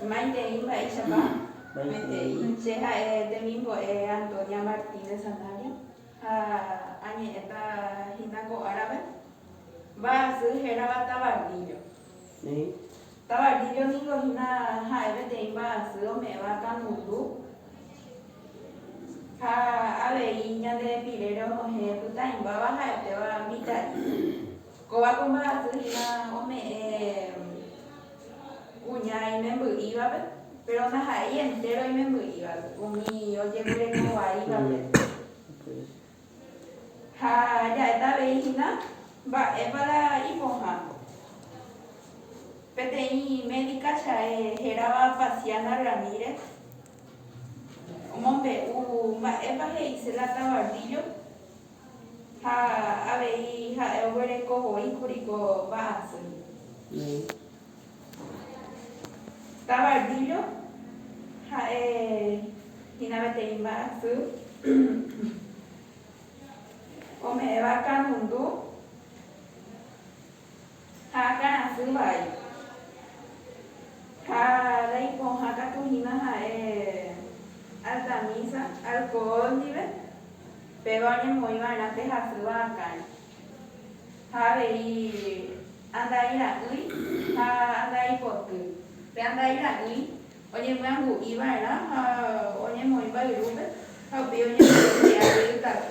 Maitei mba'éichapa? Maitei. Che ha'e temimbo'e Antonia Martínez Sanabria ha añe'ẽta hína ko árape mba'asy hérava tabardillo. Tabardillo ningo hína ha'e peteĩ mba'asy ome'ẽva kangundú ha avei ñande pirére onohẽ pytãimbáva ha'etéva mitã'i. Kóva ko mba'aty hína ome'ẽ kuña imemby'ívape, péro ndaha'éi entéro imemby'ívape umi ojeguereko vaívape. Ha ja'éta avei hína mba'épa la ipohã. Peteĩ médika chae hérava Pasiana Ramírez omombe'u mba'épa he'ise la Tabarrillo. Ha avei ha'e oguereko voi kuri ko mba'asýgui. Tabardillo ha'e hína peteĩ mba'asy ome'ẽva kanundu. Ha akãrasy vai. Ha raipohã katu hína ha'e Altamisa, alkohol ndive, péva oñemoĩ va'erã pe hasýva akãre. Ha avei andai ra'ỹi ha andai poty. Pe andai ra'ỹi oñemyangui va'erã ha oñemoĩ mbayrúpe ha upéi oñemoĩ che ary ytaty.